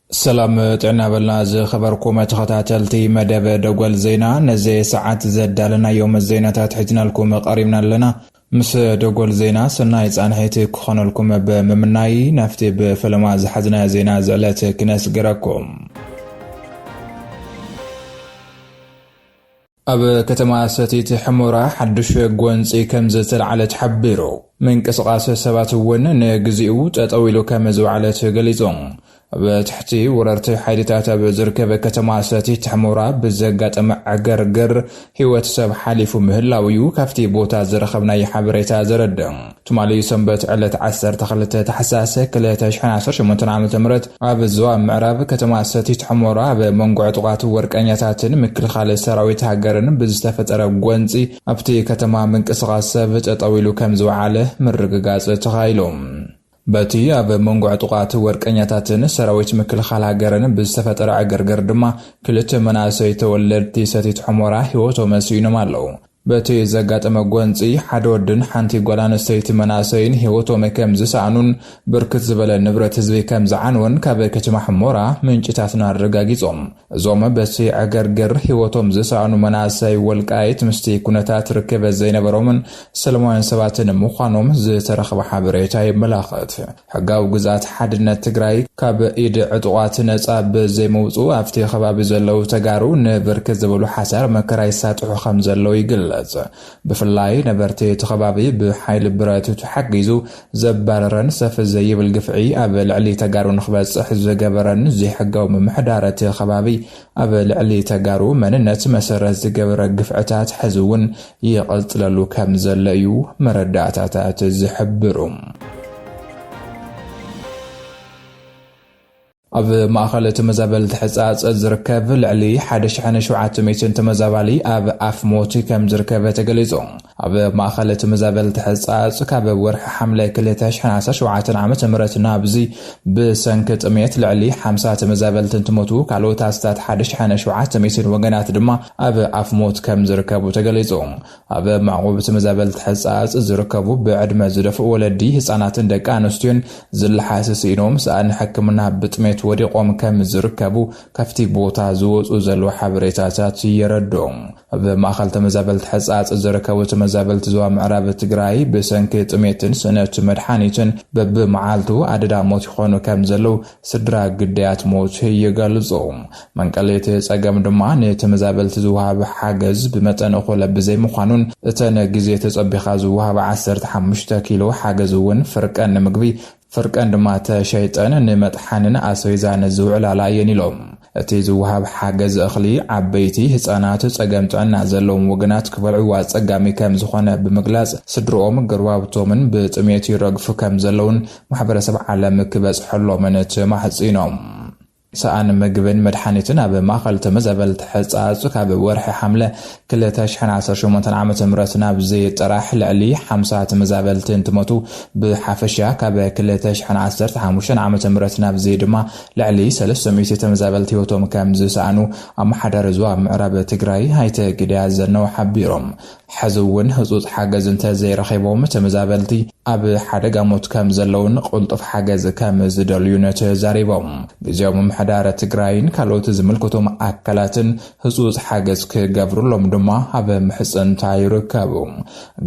ሰላም ጥዕና በልና ዝኸበርኩም ተኸታተልቲ መደብ ደጎል ዜና ነዚ ሰዓት ዘዳለናዮም ዜናታት ሕዝናልኩም ቐሪብና ኣለና ምስ ደጎል ዜና ሰናይ ጻንሒት ክኾነልኩም ብምምናይ ናፍቲ ብፈለማ ዝሓዝናዮ ዜና ዝዕለት ክነስግረኩም። ኣብ ከተማ ሰቲት ሕሞራ ሓዱሽ ጎንጺ ከም ዝተልዓለ ተሓቢሩ። ምንቅስቓስ ሰባት እውን ንግዚኡ ጠጠው ኢሉ ከም ዝውዓለ ተገሊጹ። ኣብ ትሕቲ ወረርቲ ሓይልታት ኣብ ዝርከብ ከተማ ሰቲት ሕሞራ ብዘጋጠመ ዕግርግር ህይወት ሰብ ሓሊፉ ምህላው እዩ ካብቲ ቦታ ዝረኸብናዮ ሓበሬታ ዘረድእ። ትማሊ ሰንበት ዕለት ዓሰርተ ክልተ ታሕሳስ ክልተ ሽሕን ዓሰርተ ሸሞንተን ዓመተ ምህረት ኣብ ዞባ ምዕራብ ከተማ ሰቲት ሕሞራ ኣብ መንጎ ዕጡቓት ወርቀኛታትን ምክልኻል ሰራዊት ሃገርን ብዝተፈጠረ ጎንፂ ኣብቲ ከተማ ምንቅስቓስ ሰብ ጠጠው ኢሉ ከምዝወዓለ ምርግጋፅ ተኻኢሉ። በቲ ኣብ መንጎ ዕጡቓት ወርቀኛታትን ሰራዊት ምክልኻል ሃገርን ብዝተፈጠረ ዕግርግር ድማ ክልተ መናእሰይ ተወለድቲ ሰቲት ሑመራ ህይወቶም ስኢኖም ኣለው። በቲ ዘጋጠመ ጎንፂ ሓደ ወድን ሓንቲ ጓል ኣንስተይቲ መናእሰይን ህይወቶም ከምዝሰኣኑን ብርክት ዝበለ ንብረት ህዝቢ ከምዝዓነወን ካብ ከተማ ሑመራ ምንጭታትና ኣረጋጊፆም። እዞም በቲ ዕግርግር ህይወቶም ዝሰኣኑ መናእሰይ ወልቃይት ምስቲ ኩነታት ርክበት ዘይነበሮምን ሰለማውያን ሰባትን ምዃኖም ዝተረኽበ ሓበሬታ የመላኽት። ሕጋዊ ግዝኣት ሓድነት ትግራይ ካብ ኢድ ዕጡቓት ነፃ ብዘይምውፅኡ ኣብቲ ከባቢ ዘለዉ ተጋሩ ንብርክት ዝበሉ ሓሳር መከራ ይሳጥሑ ከምዘለዉ ይግለፅ። ብፍላይ ነበርቲ እቲ ከባቢ ብሓይሊ ብረት ተሓጊዙ ዘባረረን ሰፍ ዘይብል ግፍዒ ኣብ ልዕሊ ተጋሩ ንክበፅሕ ዝገበረን ዘይሕጋዊ ምምሕዳር እቲ ከባቢ ኣብ ልዕሊ ተጋሩ መንነት መሰረት ዝገበረ ግፍዕታት ሕዚ እውን ይቕፅለሉ ከም ዘሎ እዩ መረዳእታታት ዝሕብሩ። ኣብ ማእኸል ተመዛበልቲ ሕፃፅ ዝርከብ ልዕሊ ሓደ ሽሕን ሸውዓተ ሚእትን ተመዛባሊ ኣብ ኣፍ ሞት ከም ዝርከብ ተገሊፁ። ኣብ ማእኸል ተመዛበልቲ ሕፃፅ ካብ ወርሒ ሓምለ ክልተ ሽሕን ዓሰርተ ሸውዓተን ዓመተ ምህረት ናብዚ ብሰንኪ ጥምየት ልዕሊ ሓምሳ ተመዛበልቲ እንትሞቱ ካልኦት ኣስታት ሓደ ሽሕን ሸውዓተ ሚእትን ወገናት ድማ ኣብ ኣፍ ሞት ከም ዝርከቡ ተገሊፁ። ኣብ ማዕቑብ ተመዛበልቲ ሕጻጽ ዝርከቡ ብዕድመ ዝደፍኡ ወለዲ፣ ህጻናትን ደቂ ኣንስትዮን ዝለሓስ ስኢኖም፣ ሰኣን ሕክምና ብጥሜት ወዲቖም ከም ዝርከቡ ካብቲ ቦታ ዝወጽኡ ዘለዉ ሓበሬታታት የረድኡ። ኣብ ማእኸል ተመዛበልቲ ሕጻጽ ዝርከቡ ተመዛበልቲ ዞባ ምዕራብ ትግራይ ብሰንኪ ጥሜትን ስእነት መድሓኒትን በብመዓልቱ ኣደዳ ሞት ይኾኑ ከም ዘለዉ ስድራ ግዳያት ሞት ይገልጹ። መንቀሊ እቲ ጸገም ድማ ንተመዛበልቲ ዝወሃብ ሓገዝ ብመጠን እኹለ ብዘይምዃኑን እተን ግዜ ተጸቢኻ ዝወሃባ ዓሰርተ ሓሙሽተ ኪሎ ሓገዝ እውን ፍርቀን ንምግቢ ፍርቀን ድማ ተሸይጠን ንመጥሓንን ኣስቤዛን ዝውዕላላ እየን ኢሎም። እቲ ዝወሃብ ሓገዝ እኽሊ ዓበይቲ፣ ህጻናት፣ ጸገም ጥዕና ዘለዎም ወገናት ክበልዕዎ ኣጸጋሚ ከም ዝኾነ ብምግላጽ ስድርኦም ገርባብቶምን ብጥሜት ይረግፉ ከም ዘለውን ማሕበረሰብ ዓለም ክበፅሐሎምን ተማሕፂኖም። ሰኣን ምግብን መድሓኒትን ኣብ ማእኸል ተመዛበልቲ ሕፃፅ ካብ ወርሒ ሓምለ ክልተ ሽሕን ዓሰርተ ሸሞንተን ዓመተ ምህረት ናብዚ ጥራሕ ልዕሊ ሓምሳ ተመዛበልቲ እንትሞቱ ብሓፈሻ ካብ ክልተ ሽሕን ዓሰርተ ሓሙሽተን ዓመተ ምህረት ናብዚ ድማ ልዕሊ ሰለስተ ሚእቲ ተመዛበልቲ ህይወቶም ከምዝሰኣኑ ኣመሓዳሪ ዞባ ምዕራብ ትግራይ ኣይተ ግደይ ኣዘነው ሓቢሮም። ሐዚ እውን ህፁፅ ሓገዝ እንተዘይረኺቦም ተመዛበልቲ ኣብ ሓደጋ ሞት ከምዘለውን ቕልጡፍ ሓገዝ ከምዝደልዩን ተዛሪቦም። ግዝያዊ ምምሕዳር ትግራይን ካልኦት ዝምልከቶም ኣካላትን ህፁፅ ሓገዝ ክገብሩሎም ድማ ኣብ ምሕፅንታ ይርከቡ።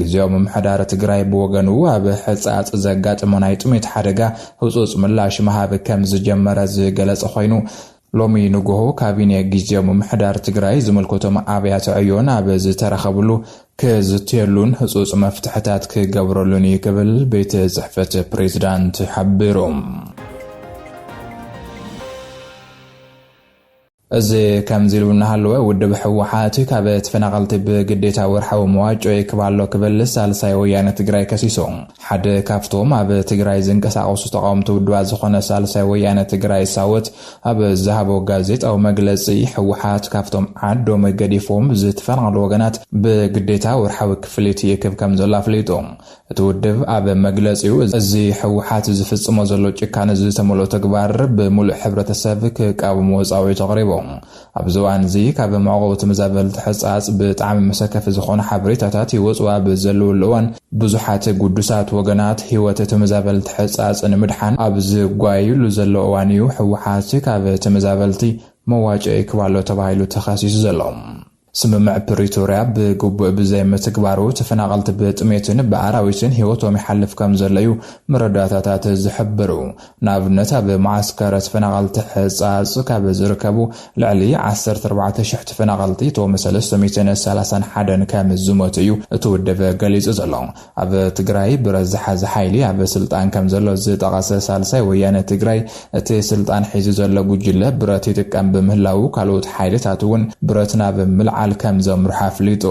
ግዝያዊ ምምሕዳር ትግራይ ብወገኑ ኣብ ሕፃፅ ዘጋጠመ ናይ ጥሜት ሓደጋ ህፁፅ ምላሽ ምሃብ ከምዝጀመረ ዝገለፀ ኾይኑ ሎሚ ንጉሆ ካቢኔ ጊዜያዊ ምምሕዳር ትግራይ ዝምልከቶም ኣብያተ ዕዮ ናብ ዝተረኸብሉ ክዝትየሉን ህፁፅ መፍትሕታት ክገብረሉን እዩ ክብል ቤት ፅሕፈት ፕሬዝዳንት ሓቢሩ። እዚ ከምዚ ኢሉ እናሃለወ ውድብ ህወሓት ካብ ተፈናቐልቲ ብግዴታ ወርሓዊ መዋጮ ይክብ ኣሎ ክብል ሳልሳይ ወያነ ትግራይ ከሲሱ። ሓደ ካብቶም ኣብ ትግራይ ዝንቀሳቐሱ ተቓወምቲ ውድባት ዝኾነ ሳልሳይ ወያነ ትግራይ ሳወት ኣብ ዝሃቦ ጋዜጣዊ መግለፂ ህወሓት ካብቶም ዓዶም ገዲፎም ዝተፈናቐሉ ወገናት ብግዴታ ወርሓዊ ክፍሊት ይክብ ከም ዘሎ ኣፍሊጡ። እቲ ውድብ ኣብ መግለፂኡ እዚ ህወሓት ዝፍፅሞ ዘሎ ጭካነ ዝተመልኦ ተግባር ብምሉእ ሕብረተሰብ ክቃወሞ ፃዊዒት ኣቕሪቡ። ኣብዚ እዋን እዚ ካብ መዕቆቢ ተመዛበልቲ ሕፃፅ ብጣዕሚ መሰከፊ ዝኾኑ ሓበሬታታት ይወፅኡ ኣብ ዘለውሉ እዋን ብዙሓት ጉዱሳት ወገናት ህይወት ተመዛበልቲ ሕፃፅ ንምድሓን ኣብ ዝጓየዩሉ ዘለዉ እዋን እዩ ህወሓት ካብ ተመዛበልቲ መዋጨኢ ክብ ኣሎ ተባሂሉ ተኸሲሱ ዘሎ። ስምምዕ ፕሪቶርያ ብግቡእ ብዘይምትግባሩ ተፈናቐልቲ ብጥሜትን ብኣራዊትን ህይወቶም ይሓልፍ ከምዘሎ እዩ መረዳእታታት ዝሕብሩ። ንኣብነት ኣብ መዓስከረ ተፈናቐልቲ ሕጻጽ ካብ ዝርከቡ ልዕሊ ዓሰርተ ኣርባዕተ ሽሕ ተፈናቐልቲ እቶም ሰለስተ ሚእትን ሰላሳን ሓደን ከም ዝሞቱ እዩ እቲ ውድብ ገሊጹ ዘሎ። ኣብ ትግራይ ብረት ዝሓዘ ሓይሊ ኣብ ስልጣን ከም ዘሎ ዝጠቐሰ ሳልሳይ ወያነ ትግራይ እቲ ስልጣን ሒዙ ዘሎ ጉጅለ ብረት ይጥቀም ብምህላዉ ካልኦት ሓይልታት እውን ብረት ናብ ምልዓል ከም ዘምርሑ ኣፍሊጡ።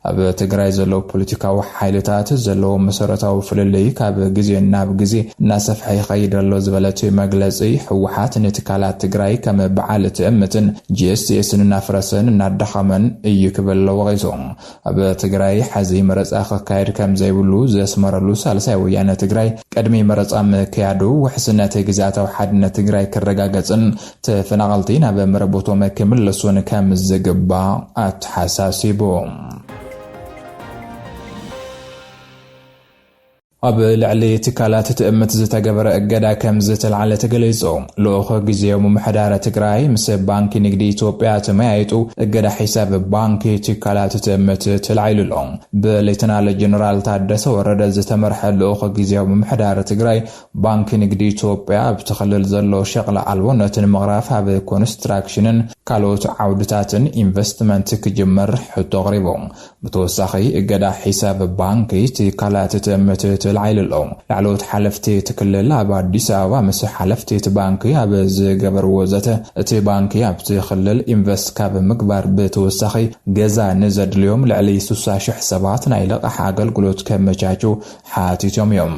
ኣብ ትግራይ ዘለዉ ፖለቲካዊ ሓይልታት ዘለዎም መሰረታዊ ፍልልይ ካብ ግዜ ናብ ግዜ እናሰፍሐ ይኸይድ ኣሎ ዝበለ እቲ መግለፂ፣ ህወሓት ንትካላት ትግራይ ከም በዓል ትእምትን ጂኤስቲኤስን እናፍረሰን እናዳኸመን እዩ ክብል ወቒሱ። ኣብ ትግራይ ሐዚ መረፃ ክካየድ ከምዘይብሉ ዘስመረሉ ሳልሳይ ወያነ ትግራይ፣ ቅድሚ መረፃ ምክያዱ ውሕስነት ግዝኣታዊ ሓድነት ትግራይ ክረጋገፅን ተፈናቐልቲ ናብ መረቦቶም ክምለሱን ከም ዝግባእ ኣተሓሳሲቡ። ኣብ ልዕሊ ትካላት ትእምት ዝተገበረ እገዳ ከም ዝተልዓለ ተገሊጹ። ልኡኽ ግዜያዊ ምምሕዳር ትግራይ ምስ ባንኪ ንግዲ ኢትዮጵያ ተመያይጡ እገዳ ሒሳብ ባንኪ ትካላት ትእምት ተላዒሉ ኣሎ። ብሌተናል ጀነራል ታደሰ ወረደ ዝተመርሐ ልኡኽ ግዜያዊ ምምሕዳር ትግራይ ባንኪ ንግዲ ኢትዮጵያ ኣብቲ ክልል ዘሎ ሸቕሊ ኣልቦነት ንምቕራፍ ኣብ ኮንስትራክሽንን ካልኦት ዓውድታትን ኢንቨስትመንት ክጅምር ሕቶ ኣቕሪቡ። ብተወሳኺ እገዳ ሒሳብ ባንኪ ትካላት እቲ ምትእትል ዓይሊ ኣሎ። ላዕለዎት ሓለፍቲ እቲ ክልል ኣብ ኣዲስ ኣበባ ምስ ሓለፍቲ እቲ ባንኪ ኣብ ዝገበርዎ ዘተ እቲ ባንኪ ኣብቲ ክልል ኢንቨስት ካብ ምግባር ብተወሳኺ ገዛ ንዘድልዮም ልዕሊ ስሳ ሽሕ ሰባት ናይ ልቓሕ ኣገልግሎት ከመቻችው ሓቲቶም እዮም።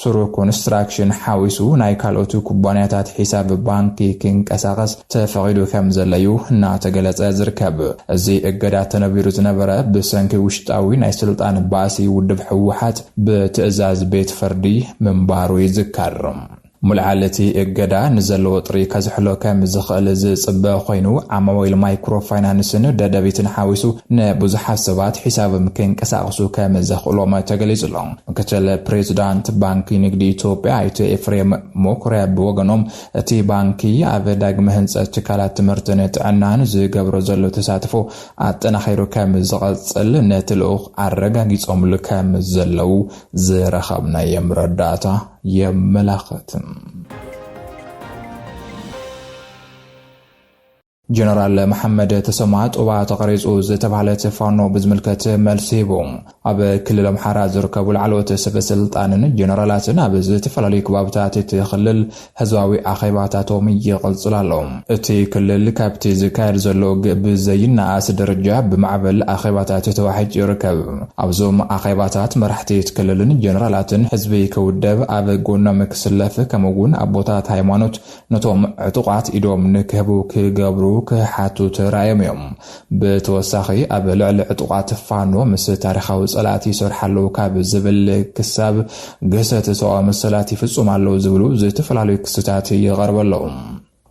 ስሩዕ ኮንስትራክሽን ሓዊሱ ናይ ካልኦት ኩባንያታት ሒሳብ ባንኪ ክንቀሳቐስ ተፈቒዱ ከምዘሎ እዩ እናተገለፀ ዝርከብ። እዚ እገዳ ተነቢሩ ዝነበረ ብሰንኪ ውሽጣዊ ናይ ስልጣን ባእሲ ውድብ ህወሓት ብትእዛዝ ቤት ፍርዲ ምንባሩ ይዝከር። ምልዓል እቲ እገዳ ንዘሎ ወጥሪ ከዝሕሎ ከም ዝኽእል ዝፅበ ኮይኑ ዓማዊል ማይክሮ ፋይናንስን ደደቢትን ሓዊሱ ንብዙሓት ሰባት ሒሳብም ክንቀሳቕሱ ከም ዘኽእሎም ተገሊፁ ኣሎ። ምክትል ፕሬዚዳንት ባንኪ ንግዲ ኢትዮጵያ ኣይተ ኤፍሬም ሞኩሪያ ብወገኖም እቲ ባንኪ ኣብ ዳግመ ህንፀት ትካላት ትምህርትን ጥዕናን ዝገብሮ ዘሎ ተሳትፎ ኣጠናኺሩ ከም ዝቐፅል ነቲ ልኡኽ ኣረጋጊፆምሉ ከም ዘለው ዝረኸብናዮ መረዳእታ የመላኽት። ጀነራል መሓመድ ተሰማ ጡባ ተቐሪፁ ዝተብሃለት ፋኖ ብዝምልከት መልሲ ሂቡ። ኣብ ክልል ኣምሓራ ዝርከቡ ላዕለዎት ሰበስልጣንን ጀነራላትን ኣብ ዝተፈላለዩ ከባብታት እቲ ክልል ህዝባዊ ኣኼባታቶም ይቕፅል ኣሎ። እቲ ክልል ካብቲ ዝካየድ ዘሎ ውግእ ብዘይነኣስ ደረጃ ብማዕበል ኣኼባታት ተዋሒጡ ይርከብ። ኣብዞም ኣኼባታት መራሕቲ እቲ ክልልን ጀነራላትን ህዝቢ ክውደብ፣ ኣብ ጎኖም ክስለፍ ከምኡ እውን ኣቦታት ሃይማኖት፣ ነቶም ዕጡቓት ኢዶም ንክህቡ ክገብሩ ክሓቱ ተራእዮም እዮም። ብተወሳኺ ኣብ ልዕሊ ዕጡቓት ፋኖ ምስ ታሪኻዊ ፀላእቲ ይሰርሑ ኣለዉ ካብ ዝብል ክሳብ ግህሰት ሰብኣዊ መሰላት ይፍፅሙ ኣለዉ ዝብሉ ዝተፈላለዩ ክስታት ይቐርቡ ኣለዉ።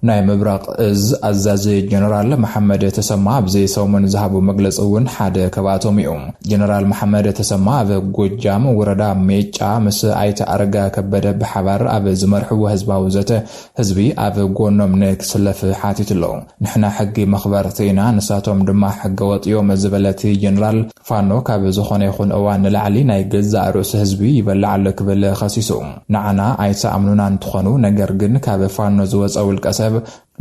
ናይ ምብራቕ እዝ ኣዛዚ ጀነራል መሓመድ ተሰማ ኣብዚ ሰሙን ዝሃቦ መግለፂ እውን ሓደ ካብኣቶም እዩ። ጀነራል መሓመድ ተሰማ ኣብ ጎጃም ወረዳ ሜጫ ምስ ኣይተ ኣረጋ ከበደ ብሓባር ኣብ ዝመርሕዎ ህዝባዊ ዘተ ህዝቢ ኣብ ጎኖም ንክስለፍ ሓቲቱ ኣሎ። ንሕና ሕጊ መኽበርቲ ኢና ንሳቶም ድማ ሕገወጥ እዮም ዝበለ እቲ ጀነራል፣ ፋኖ ካብ ዝኾነ ይኹን እዋን ንላዕሊ ናይ ገዛእ ርእሱ ህዝቢ ይበልዕ ኣሎ ክብል ከሲሱ። ንዓና ኣይትኣምኑናን ትኾኑ ነገር ግን ካብ ፋኖ ዝወፀ ውልቀሰብ፣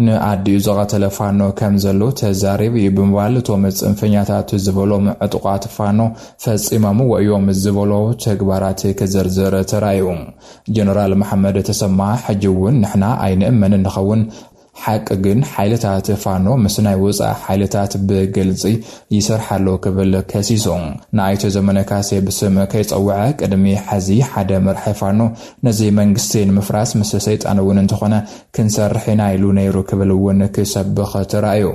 ንኣዲኡ ዝቐተለ ፋኖ ከም ዘሎ ተዛሪቡ እዩ ብምባል እቶም ፅንፈኛታት ዝበሎም ዕጡቓት ፋኖ ፈፂሞምዎ እዮም ዝበሎ ተግባራት ክዝርዝር ተራእዩ። ጀነራል መሓመድ ተሰማ ሕጂ እውን ንሕና ኣይንእመንን ንኸውን፣ ሓቂ ግን ሓይልታት ፋኖ ምስ ናይ ወፃኢ ሓይልታት ብግልፂ ይሰርሕ ኣሎ ክብል ከሲሱ። ንኣይተ ዘመነ ካሴ ብስም ከይፀውዐ ቅድሚ ሕዚ ሓደ መራሒ ፋኖ ነዚ መንግስቲ ንምፍራስ ምስ ሰይጣን እውን እንተኾነ ክንሰርሕ ኢና ኢሉ ነይሩ ክብል እውን ክሰብኽ ተራእዩ።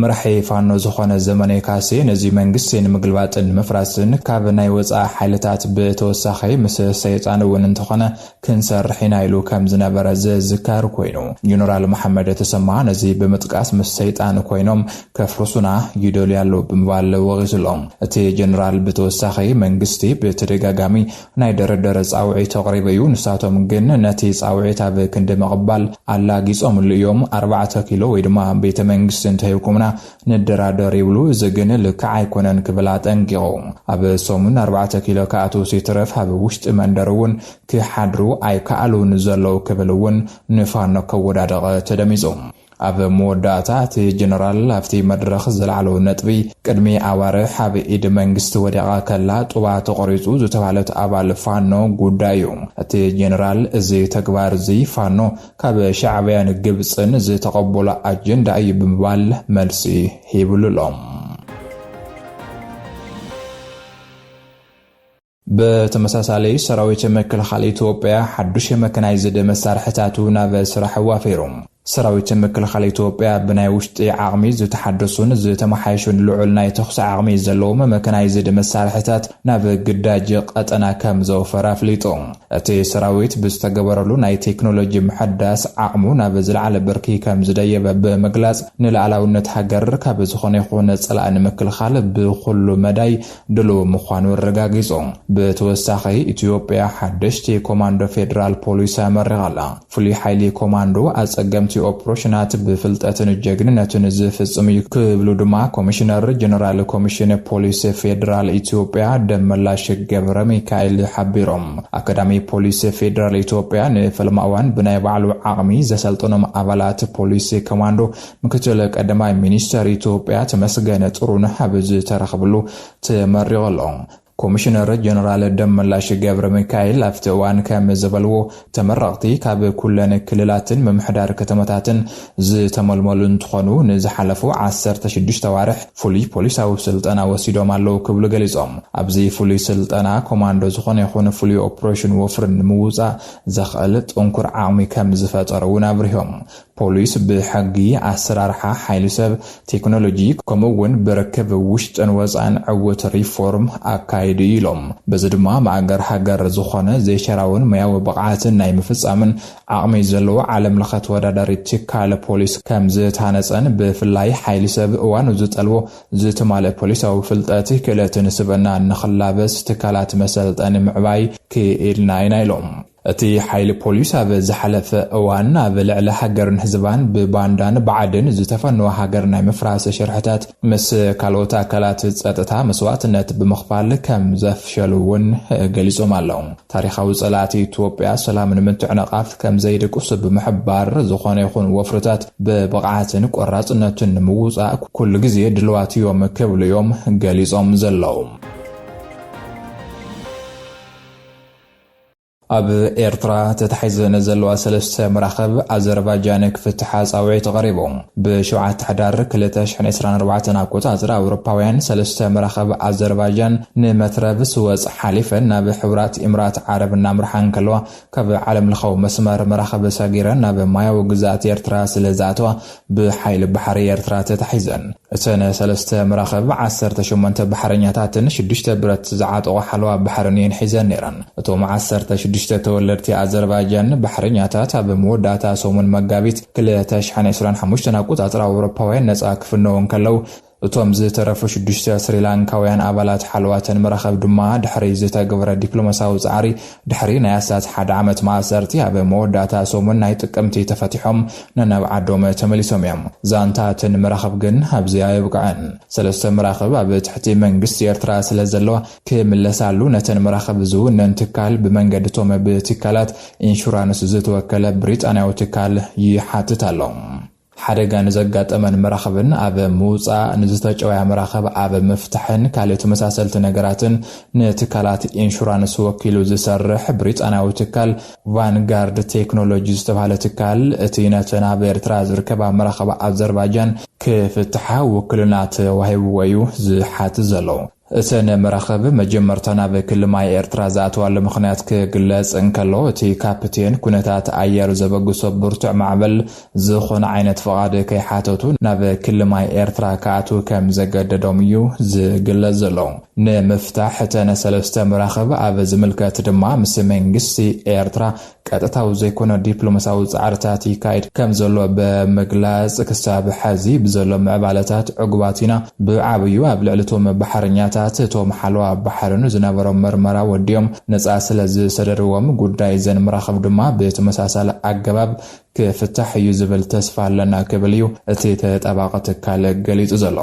መራሒ ፋኖ ዝኾነ ዘመነ ካሴ ነዚ መንግስቲ ንምግልባጥን ንምፍራስን ካብ ናይ ወፃኢ ሓይልታት ብተወሳኺ ምስ ሰይጣን እውን እንተኾነ ክንሰርሕ ኢና ኢሉ ከም ዝነበረ ዝዝከር ኮይኑ ጀነራል መሓመድ ተሰማ ነዚ ብምጥቃስ ምስ ሰይጣን ኮይኖም ከፍርሱና ይደልዩ ኣለዉ ብምባል ወቒሱሎም። እቲ ጀነራል ብተወሳኺ መንግስቲ ብተደጋጋሚ ናይ ድርድር ጻውዒት ኣቕሪቡ እዩ፣ ንሳቶም ግን ነቲ ጻውዒት ኣብ ክንዲ ምቕባል ኣላጊጾምሉ እዮም፣ ኣርባዕተ ኪሎ ወይ ድማ ቤተ መንግስቲ እንተሂብኩምና ንደራደር ይብሉ፣ እዚ ግን ልክዕ ኣይኮነን ክብል ኣጠንቂቑ። ኣብ ሰሙን ኣርባዕተ ኪሎ ክኣትዉስ ይትረፍ ኣብ ውሽጢ መንደር እውን ክሓድሩ ኣይከኣሉን ዘለዉ ክብል እውን ንፋኖ ከወዳድቕ ተደሚጹ። ኣብ መወዳእታ እቲ ጀነራል ኣብቲ መድረኽ ዘልዓሎ ነጥቢ፣ ቅድሚ ኣዋርሕ ኣብ ኢድ መንግስቲ ወዲቓ ከላ ጡባ ተቖሪጹ ዝተባህለት ኣባል ፋኖ ጉዳይ እዩ። እቲ ጀነራል እዚ ተግባር'ዚ ፋኖ ካብ ሻዕብያን ግብጽን ዝተቐበሎ ኣጀንዳ እዩ ብምባል መልሲ ሂብሉ'ሎ። ብተመሳሳሊ ሰራዊት ምክልኻል ኢትዮጵያ ሓዱሽ መከናይዝድ መሳርሕታቱ ናብ ስራሕ ዋፊሩ። ሰራዊት ምክልኻል ኢትዮጵያ ብናይ ውሽጢ ዓቕሚ ዝተሓደሱን ዝተመሓየሹን ልዑል ናይ ተኹሲ ዓቕሚ ዘለዎም መከናይዝድ መሳርሕታት ናብ ግዳጅ ቐጠና ከምዘውፈረ ኣፍሊጡ። እቲ ሰራዊት ብዝተገበረሉ ናይ ቴክኖሎጂ ምሕዳስ ዓቕሙ ናብ ዝለዓለ ብርኪ ከምዝደየበ ብምግላፅ ንልኣላዊነት ሃገር ካብ ዝኾነ ይኹን ፀላኢ ንምክልኻል ብኹሉ መዳይ ድሉው ምዃኑ ኣረጋጊጹ። ብተወሳኺ ኢትዮጵያ ሓደሽቲ ኮማንዶ ፌደራል ፖሊስ ኣመሪቓ ኣላ። ፍሉይ ሓይሊ ኮማንዶ ኣጸገምቲ ኦፕሮሽናት ብፍልጠትን ጀግንነትን ዝፍጽም እዩ ክብሉ ድማ ኮሚሽነር ጀነራል ኮሚሽን ፖሊስ ፌደራል ኢትዮጵያ ደመላሽ ገብረሚካኤል ሓቢሮም። ኣካዳሚ ፖሊስ ፌደራል ኢትዮጵያ ንፈለማ እዋን ብናይ ባዕሉ ዓቕሚ ዘሰልጠኖም ኣባላት ፖሊስ ኮማንዶ ምክትል ቀዳማይ ሚኒስተር ኢትዮጵያ ተመስገን ጥሩነህ ኣብ ዝተረኽብሉ ተመሪቑ ኣሎ። ኮሚሽነር ጀነራል ደመላሽ ገብረ ሚካኤል ኣብቲ እዋን ከም ዝበልዎ ተመረቕቲ ካብ ኩለን ክልላትን ምምሕዳር ከተማታትን ዝተመልመሉ እንትኾኑ ንዝሓለፉ ዓሰርተ ሽዱሽተ ኣዋርሕ ፍሉይ ፖሊሳዊ ስልጠና ወሲዶም ኣለዉ ክብሉ ገሊፆም። ኣብዚ ፍሉይ ስልጠና ኮማንዶ ዝኾነ ይኹን ፍሉይ ኦፕሬሽን ወፍሪ ንምውፃእ ዘኽእል ጥንኩር ዓቕሚ ከም ዝፈጠሩ እውን ኣብሪሆም። ፖሊስ ብሕጊ፣ ኣሰራርሓ ሓይሊ ሰብ፣ ቴክኖሎጂ ከምኡ እውን ብርክብ ውሽጥን ወፃእን ዕውት ሪፎርም ኣካይዱ እዩ ኢሎም። በዚ ድማ ማእገር ሃገር ዝኾነ ዘይሸራውን ሞያዊ ብቕዓትን ናይ ምፍፃምን ዓቕሚ ዘለዎ ዓለም ለኸ ተወዳዳሪ ትካል ፖሊስ ከምዝታነፀን ብፍላይ ሓይሊ ሰብ እዋኑ ዝጠልቦ ዝተማልእ ፖሊሳዊ ፍልጠት፣ ክእለትን ስብእናን ንኽላበስ ትካላት መሰልጠኒ ምዕባይ ክኢልና ኢና ኢሎም። እቲ ሓይሊ ፖሊስ ኣብ ዝሓለፈ እዋን ኣብ ልዕሊ ሃገርን ህዝባን ብባንዳን ብዓድን ዝተፈነወ ሃገር ናይ ምፍራስ ሽርሕታት ምስ ካልኦት ኣካላት ፀጥታ መስዋእትነት ብምኽፋል ከም ዘፍሸሉ እውን ገሊፆም ኣለው። ታሪኻዊ ፀላእቲ ኢትዮጵያ ሰላም ንምትዕንቓፍ ከም ዘይድቅሱ ብምሕባር፣ ዝኾነ ይኹን ወፍርታት ብብቕዓትን ቆራፅነትን ንምውፃእ ኩሉ ግዜ ድልዋት እዮም ክብሉ እዮም ገሊፆም ዘለው። ኣብ ኤርትራ ተታሒዘን ዘለዋ ሰለስተ መራኽብ ኣዘርባጃን ክፍትሓ ጻውዒት ቐሪቡ። ብ ሸውዓተ ሕዳር ክልተ ሽሕን ዕስራን ኣርባዕተን ኣቆጻጽራ ኣውሮፓውያን ሰለስተ መራኽብ ኣዘርባጃን ንመትረብ ስወጽ ሓሊፈን ናብ ሕቡራት ኢምራት ዓረብ እናምርሓ እንከለዋ ካብ ዓለምለኻዊ መስመር መራኽብ ሰጊረን ናብ ማያዊ ግዝኣት ኤርትራ ስለዝኣተዋ ብሓይሊ ባሕሪ ኤርትራ ተታሒዘን እተን ሰለስተ መራኽብ፣ ዓሰርተ ሸሞንተ ባሕረኛታትን ሽዱሽተ ብረት ዝዓጠቑ ሓለዋ ባሕርን እየን ሒዘን ነይረን። እቶም ዓሰርተ ሽዱሽተ ተወለድቲ ኣዘርባጃን ባሕረኛታት ኣብ መወዳእታ ሰሙን መጋቢት ክልተ ሽሕን ዕስራን ሓሙሽተን ኣቆጻጽራ ኣውሮፓውያን ነጻ ክፍነዉ እንከለዉ፣ እቶም ዝተረፉ ሽዱሽተ ስሪላንካውያን ኣባላት ሓለዋተን መራኸብ ድማ ድሕሪ ዝተግብረ ዲፕሎማሳዊ ጻዕሪ ድሕሪ ናይ ኣስታት ሓደ ዓመት ማእሰርቲ ኣብ መወዳእታ ሰሙን ናይ ጥቅምቲ ተፈቲሖም ነናብ ዓዶም ተመሊሶም እዮም። ዛንታ እተን መራኽብ ግን ኣብዚ ኣየብቅዐን። ሰለስተ መራኽብ ኣብ ትሕቲ መንግስቲ ኤርትራ ስለዘለዋ ክምለሳሉ ነተን መራኽብ ዝውነን ትካል ብመንገዲ እቶም ብትካላት ኢንሹራንስ ዝተወከለ ብሪጣንያዊ ትካል ይሓትት ኣሎ። ሓደጋ ንዘጋጠመን መራኽብን ኣብ ምውጻእ፣ ንዝተጨውያ መራኽብ ኣብ ምፍታሕን ካልእ ተመሳሰልቲ ነገራትን ንትካላት ኢንሹራንስ ወኪሉ ዝሰርሕ ብሪጣንያዊ ትካል ቫንጋርድ ቴክኖሎጂ ዝተባህለ ትካል እቲ ነተን ኣብ ኤርትራ ዝርከባ መራኽብ ኣዘርባጃን ክፍትሓ ውክልና ተዋሂብዎ እዩ ዝሓትት ዘሎ። እተን መራኽብ መጀመርታ ናብ ክሊ ማይ ኤርትራ ዝኣተዋሉ ምኽንያት ክግለጽ እንከሎ፣ እቲ ካፕቴን ኩነታት ኣየር ዘበግሶ ብርቱዕ ማዕበል ዝኾነ ዓይነት ፍቓድ ከይሓተቱ ናብ ክሊ ማይ ኤርትራ ክኣትዉ ከም ዘገደዶም እዩ ዝግለጽ ዘሎ። ንምፍታሕ እተን ሰለስተ መራኽብ ኣብ ዝምልከት ድማ ምስ መንግስቲ ኤርትራ ቀጥታዊ ዘይኮነ ዲፕሎማስያዊ ጻዕርታት ይካየድ ከም ዘሎ ብምግላጽ፣ ክሳብ ሐዚ ብዘሎ ምዕባለታት ዕጉባት ኢና፣ ብዓብዩ ኣብ ልዕሊ እቶም ባሕረኛታት፣ እቶም ሓለዋ ባሕርን ዝነበሮም ምርመራ ወዲኦም ነጻ ስለዝሰደድዎም፣ ጉዳይ እዘን መራኽብ ድማ ብተመሳሳሊ ኣገባብ ክፍታሕ እዩ ዝብል ተስፋ ኣለና ክብል እዩ እቲ ተጣባቒ ትካል ገሊጹ ዘሎ።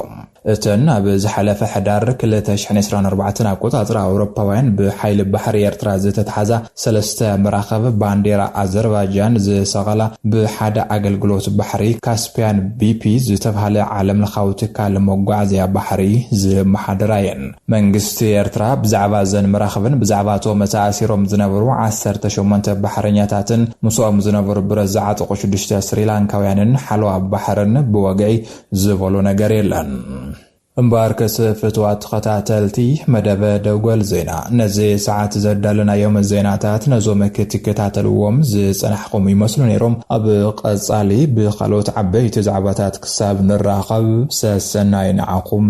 እተን ኣብ ዝሓለፈ ሕዳር ክልተ ሽሕን ዕስራን ኣርባዕተን ኣቆጻጽራ ኣውሮፓውያን ብሓይሊ ባሕሪ ኤርትራ ዝተትሓዛ ሰለስተ መራኽብ ባንዴራ ኣዘርባጃን ዝሰቐላ ብሓደ ኣገልግሎት ባሕሪ ካስፕያን ቢፒ ዝተብሃለ ዓለምለኻዊ ትካል መጓዓዝያ ባሕሪ ዝመሓደራ እየን። መንግስቲ ኤርትራ ብዛዕባ እዘን መራኽብን ብዛዕባ እቶም ተኣሲሮም ዝነበሩ ዓሰርተ ሸሞንተ ባሕረኛታትን ምስኦም ዝነበሩ ብረት ዝዓጠቑ ሽዱሽተ ስሪላንካውያንን ሓለዋ ባሕርን ብወግዒ ዝበሎ ነገር የለን። እምበኣርከስ ፍቱዋት ተኸታተልቲ መደብ ደጎል ዜና፣ ነዚ ሰዓት ዘዳለናዮም ዜናታት ነዞም ክትከታተልዎም ዝጸናሕኹም ይመስሉ ነይሮም። ኣብ ቐጻሊ ብኻልኦት ዓበይቲ ዛዕባታት ክሳብ ንራኸብ ሰሰናዩ ንዓኹም።